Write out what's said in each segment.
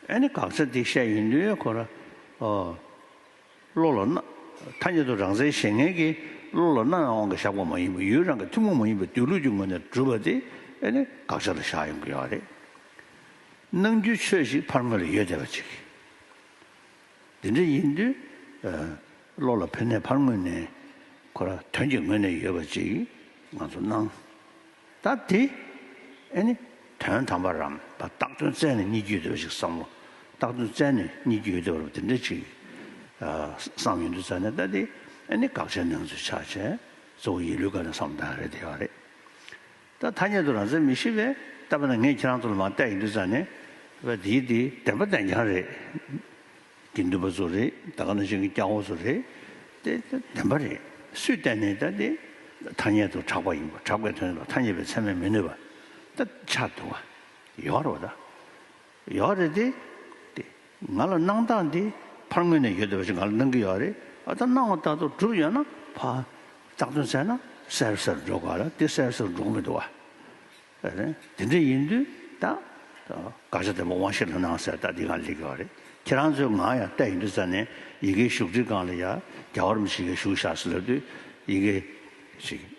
ཨ་ནི་དགག་བྱ་འདི་བཤད་ཡིན་དུས་ཁོ་ར་ཨོ། བློ་ལ་སྣ། ཐ་སྙད་དུ་རང་བཙན་བཞེས་མཁན་གྱིས་བློ་ལ་སྣ་ཡང་དབང་གིས་བཞག་པ་མ་ཡིན་པར་ཡུལ་རང་གི་ཐུན་མོང་མ་ཡིན་པའི་སྡོད་ལུགས་ཀྱི་ངོས་ནས་བསྒྲུབས་པ་དེ་ཨ་ནི་དགག་བྱ་ལ་བཞག་ཡོང་གི་ཡོད་རེད། ནང་རྒྱུད་ཆོས་ཤིག་ཕར་ངོས་ལ་ཡོད་བསྡད་པ་ཅིག་གིས། འདི་འདྲ་ཡིན་དུས། བློ་ལ་ཕུལ་ནས་ཕར་ངོས་ནས། ཁོ་ར་དོན་གྱི་ངོས་ནས་ཡོད་པ་ཅིག་ང་ཚོ་སྣང། ད་དེ། ཨེ་ནི། དོན་དམ་པར་རམ། བདག་དོན་བཙལ་ནས་གཉིད་སྐྱོད་འདོད་པ་ཞིག་བསམ་བློ། བདག་དོན་བཙལ་ནས་གཉིད་སྐྱོད་ཡོད་དོ་རུ་འདི་འདྲ་ཅིག། བསམ་ཡོད་འདུག་ཙང་ནས་ད་དེ། ཨེ་ནི་དགག་བྱའི་སྣང་ཚུལ་ཆགས་བྱས། གཙོ་བོ་ཡིད་ལུས་དགའ་ནས་བསམ་བློ་བཏང་ཡ་རེད་བསྡད་ཡོད་རེད། ད་ཐ་སྙད་དུ་རང་བཙན་མི་ཤེས་པས་བལྟ་བ་ན་ངས་ཁྱེད་རང་ཚོ་ལ་མང་བལྟས་ཡིན་དུས་ཙང་ནས། བལྟས་ཡིན་དུས་བདེན་པ་བདེན་རྐྱང་རེད། དགེ་འདུན་པ་ཚོ་རེད་ད་ག་ནང་བཞིན་གྱི་སྐྱག་འོག་ཚོ་རེད། དེ་བདེན་པ་རེད་སུས་བལྟས་ནས་བལྟས་ཏེ། ཐ་སྙད་དུ་གྲགས་པ་ཡིན་པ་གྲགས་པའི་དོན་ལ་ཐ་སྙད་པའི་ཚད་མས་མི་གནོད་པ། ད་ཆ་དུ་བ། ཡོད་རོགས་ད། ཡོད་རེད་དེ། དེ། ང་ལ་གནང་སྟངས་དེ་ཕར་ངོས་ནས་ཡོད་དེ་བ་ཞིག་ང་ལ་གནང་གི་ཡོད་རེད་ད་གནང་བ་ལྟ་ཏོ་གྲུབ་ཡོད་ན་ཕ། རྟགས་ཐོན་ཚད་ན་སེརབསར་འགྲོ་ག་ལ་དེ་སེརབསར་འགྲོ་གི་མི་འདུག་བ། རེད་དེ་འདྲ་ཡིན་དུས་ད། དགག་བྱ་དེ་མོ་དབང་ཤེད་ལ་གནང་ཟེར་ད་དེ་གང་ལེགས་ཡོད་རེད་ཁྱེད་རང་ཚོའི་ངང་ཡང་བལྟ་ཡི་འདུག་ཙ་ནས་ཡི་གེའི་བཞུགས་ཁྲི་སྒང་ལ་ཡ་རྒྱ་བར་མི་ཞིག་ཡ་བཞུགས་བཞག་ཟེར་ལབ་དུས་ཡི་གེ། ཞིག།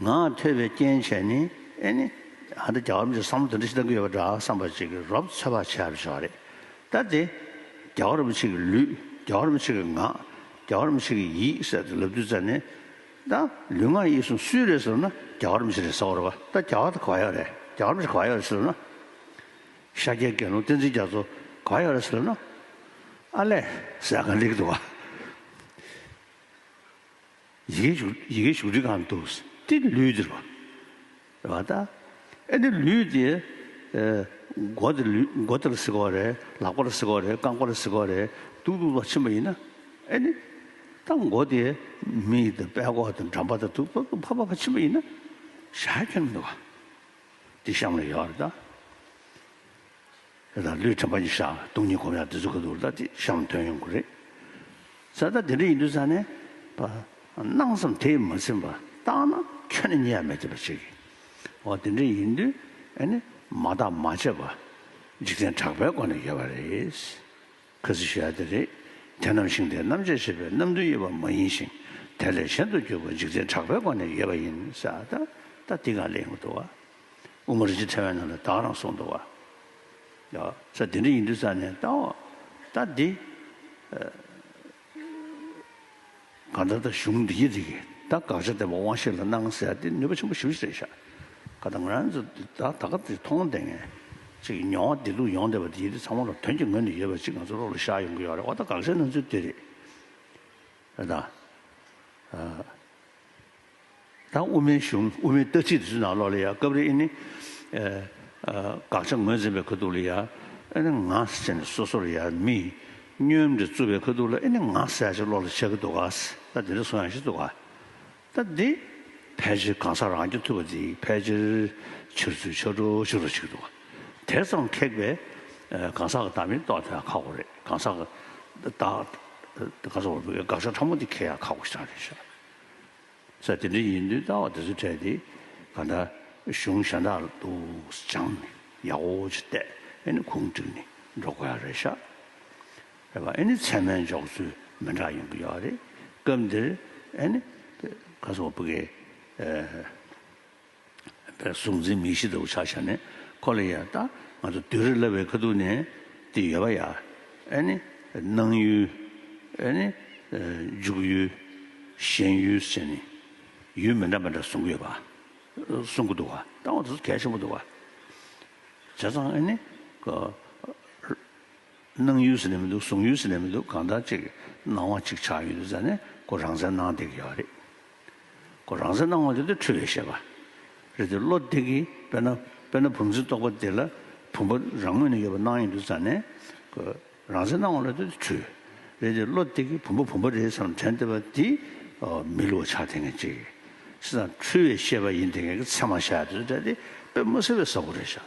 ངག་ཐོས་པའི་རྐྱེན་བྱས་ནི་ཨེ་ནི། ཨ་འདི་རྒྱ་གར་མི་ཚོས་བསམ་བློ་དེ་འདྲ་ཞིག་གཏང་གི་ཡོད་པ་འདྲ་བསམ་པ་ཅིག་གིས་རོབ་ཚོད་དཔག་བྱས་པ་ཞིག་རེད། ད་དེ། རྒྱ་གར་མི་ཚིག་གི་ལུས། རྒྱ་གར་མི་ཚིག་གི་ངག། རྒྱ་གར་མི་ཚིག་གི་ཡིད་ཟེར་དུ་ལབ་དུས་ཙམ་ནས། ད། ལུས་ངག་ཡིད་གསུམ་སུའི་རེད་ཟེར་ན་རྒྱ་གར་མི་ཚིག་རེད་ཟེར་བ་རེད་བ། ད་རྒྱ་གར་དེ་ག་བ་ཡག་རེད། རྒྱ་གར་མི་ཚིག་ག་བ་ཡག་རེད་ཟེར་ན། ཤཱཀྱའི་དགེ་སློང་བསྟན་འཛིན་རྒྱ་མཚོ་ག་བ་ཡག་རེད་ཟེར་ན། ཨ་ལས། ཟེར་ཡག་ག་འགྲིག་འདུག་བ། ཡི་གེ་བཞུགས་ཁྲི་གང་དུ་སྟེ་ལུས་འདིར་བ། རེ་བ་ཏཱ། ཨེ་ནི་ལུས་དེ། མགོ་འདི་ལུས་མགོ་དེར་གཟིགས་པ་རེད་ལག་པར་གཟིགས་པ་རེད་རྐང་པར་གཟིགས་པ་རེད་འདུག་འདུག་ལ་ཕྱིན་པ་ཡིན་ན། ཨེ་ནི། ཏཱ་མགོ་དེ་མི་ཡི་དང་པད་གོག་དང་འགྲམ་པ་དང་དུག་ཏོག་དང་ཕ་ཕ་ཕ་ཕྱིན་པ་ཡིན་ན། ཞག་གཅིག་ལ་མི་འདུག་ག། འདི་གཤམ་ལ་ཡོད་རེད་ད། དེ་དང་ལུས་དྲན་པ་གཉིས་ཤ་དུག་གཉིས་གོམས་ཡང་དེ་ཚོ་ག་དུག་ལྟ་ཅི་བྱ་བའམ་དོན་ཡོང་གི་རེད། ས་ད་དེ་འདྲ་ཡིན་དུས་ས་ནས་པ་སྣང་ཙམ་དེས་མ་ཚིམས་པར་བརྟགས་ན་ཁྱོད་ནི་གཉིད་ཡ་མེད་ཅེས་པ་ཞིག་གིས་འོ་དེ་འདྲ་ཡིན་དུས་ཨེ་ནི་མ་བརྟགས་མ་དཔྱད་པ་འཇིག་རྟེན་གྲགས་པའི་སྒོ་ནས་ཡོད་པ་རེད། ཁ་ཟི་ཤི་ཡ་དེ་རེད། དེ་ནམ་ཞིང་དེ་རྣམ་དཔྱད་བྱེད་པའི་རྣམ་འདུན་དབྱེ་བ་མ་ཡིན་ཞིང་དེ་ལས་གཞན་དུ་གྱུར་པ་འཇིག་རྟེན་གྲགས་པའི་སྒོ་ནས་ཡོད་པ་ཡིན་ས་ད་ད་འདི་གང་ལས་ཡོང་གི་འདུག་བ། དབུ་མ་རིན་ཆེན་ཕྲེང་བའི་ནང་དུ་བདག་རང་སོགས་འདུ་བ། ས་འདི་འདྲ་ཡིན་དུས་ཙམ་ནས་ལྟའོ། ལྟ་འདི། གང་ལྟར་ལྟ་གཞུང་འདི་ཡིན་རིགས་ལྟ་དགག་བྱ་འདེབས་པ་དབང་ཤེས་ལ་སྣང་གསལ་ལྟ་འདི་ནུས་པ་ཆེན་པོ་ཞིབ་ཅིག་རེད་ཤག། ད་ང་རང་ཚོ་འདི་ད་ད་ག་འདི་མཐོང་ལྡན་ངེས། ཅིག་གི་མྱོང་བ་འདི་ལུགས་ཡོང་བསྡད་པ་འདི་ཡིན་དུས་ཚང་མ་ལ་དོན་གྱི་ངོས་ནས་ཡོད་པ་ཅིག་ང་ཚོ་བློ་ལ་བཞག་ཡོང་གི་ཡོད་རེད་འོ་ད་དགག་བྱའི་སྣང་ཚུལ་འདི་རེད། རེད་ད། དང་དབུ་མའི་གཞུང་དབུ་མའི་ལྟ་ཚིག་དེ་ཚོའི་ནང་ལོགས་ལ་ཡ་སྐབས་རེ་ཨེ་ནི། དགག་བྱ་ངོས་འཛིན་པའི་ཁ་ཐུག་ལ་ཡ་ཨེ་ནི་ང་ཟེར་ནས་སོ་སོར་ཡ་མི། སྙོན་འདི་རྩུབ་པའི་ཁ་ཐུག་ལ་ཨེ་ནི་ང་ཟེར་ཡ་ཅིག་བློ་ལ་འཆར་གི་འདུག་ག་ད་འདི་འདྲ་སོང་ཡང་ཤི་འདུག་ག་ད་འདི། ཕལ་ཆེར་གང་ཟག་རང་སྐྱོན་ཐུབ་པ་འདི་ཕལ་ཆེར་འཆར་ཚུལ་ཆགས་གྲོགས་ཤིག་རོ་ཆིག་འདུག་ག་དེ་ཙམ་ཁེགས་པའི། གང་ཟག་གི་བདག་མེད་རྟོགས་དེ་ཡང་ཁག་པོ་རེད་གང་ཟག་གི། དགག་བྱ་ཕྲ་མོ་འདི་ཁེགས་ཡ་ཁག་པོ་ཞིག་ཀྱང་རེད། ས་དེ་འདྲ་ཡིན་དུས་རྟ་བ་དེ་ཚོ་ཁྲལ་ཏེ་ག་འདྲ་གཞུང་ཞྭ་འདྲ་འདུག་སྦྱངས་ནས་ཡག་འོ་ཅི་བལྟས་ཨེ་ནི་ཁུང་བསྒྲིགས་ནས་འགྲོ་ག་ཡག་རེད་ཤག་རེད་པ་ཨེ་ནི་ཚད་མའི་འཇོག་ཚུལ་མི་འདྲ་ཡོང་གི་ཡོག་རེད་སྐབས་འདིར་ཨེ་ནི་ག་ཚོགས་པུ་གའི། པའི་གཟུགས་འཛིན་མི་ཤེས་ལྟ་བུ་ཆགས་བྱ་ནི་ཁོ་ལ་ཡང་ལྟ། ང་ཚོ་བདུད་རི་བསླབ་པའི་ཁ་ཐུག་ནས་དེ་ཡོད་པ་ཡ། ཨེ་ནི། སྣང་ཡུལ། ཨེ་ནི། འཇུག་ཡུལ། ཞེན་ཡུལ་བཅས་ནི། ཡུལ་མི་འདྲ་མི་འདྲ་གསུང་གི་ཡོད་པ། གསུང་གི་འདུག་བ། ལྟ་བ་དེ་ཚོ་གལ་ཆེན་པོ་འདུག་བ། བྱས་ཙང་ཨེ་ནི། སྣང་ཡུལ་ཟེར་ནས་མི་འདུག་གསུང་ཡུལ་ཟེར་ནས་མི་འདུག་གང་ལྟར་ཅིག་སྣང་བ་ཅིག་ཆགས་ཡོད་འདུག་ཟེར་ནས་ཁོ་རང་བཙན་གནང་བསྡད་ཀྱི་ཡོད་རེད། གོ། རང་སེམས་སྣང་བ་དེ་དུར་ཁྲོད་ཡོད་ཤེས་པ། རེད་དེ་བློ་བདེ་གི། དཔེར་ན། དཔེར་ན་བུམ་ཆུ་རྟོགས་པ་དེ་ལ། བུམ་པ་རང་ངོས་ནས་ཡོད་པར་སྣང་ཡང་དུ་ཙཱ་ནས། གོ། རང་སེམས་སྣང་བ་ལ་དེ་དུར་ཁྲོད། རེད་དེ་བློ་བདེ་གི་བུམ་པ་བུམ་པ་རེད་བསམ་དྲན་བདེ་བ་དེ། མི་ལུས་བ་ཆགས་དེ་ངས་ཅིག། སེམས་དང་ཁྲོལ་བའི་ཤེས་པ་ཡིན་དེ་ངས་ཀྱི་ཚད་མ་བཞག་དེ་ཚོ་བསྒྲལ་ཏེ་པདྨོ་སེར་བའི་ས་གོ་རེ་བཞག།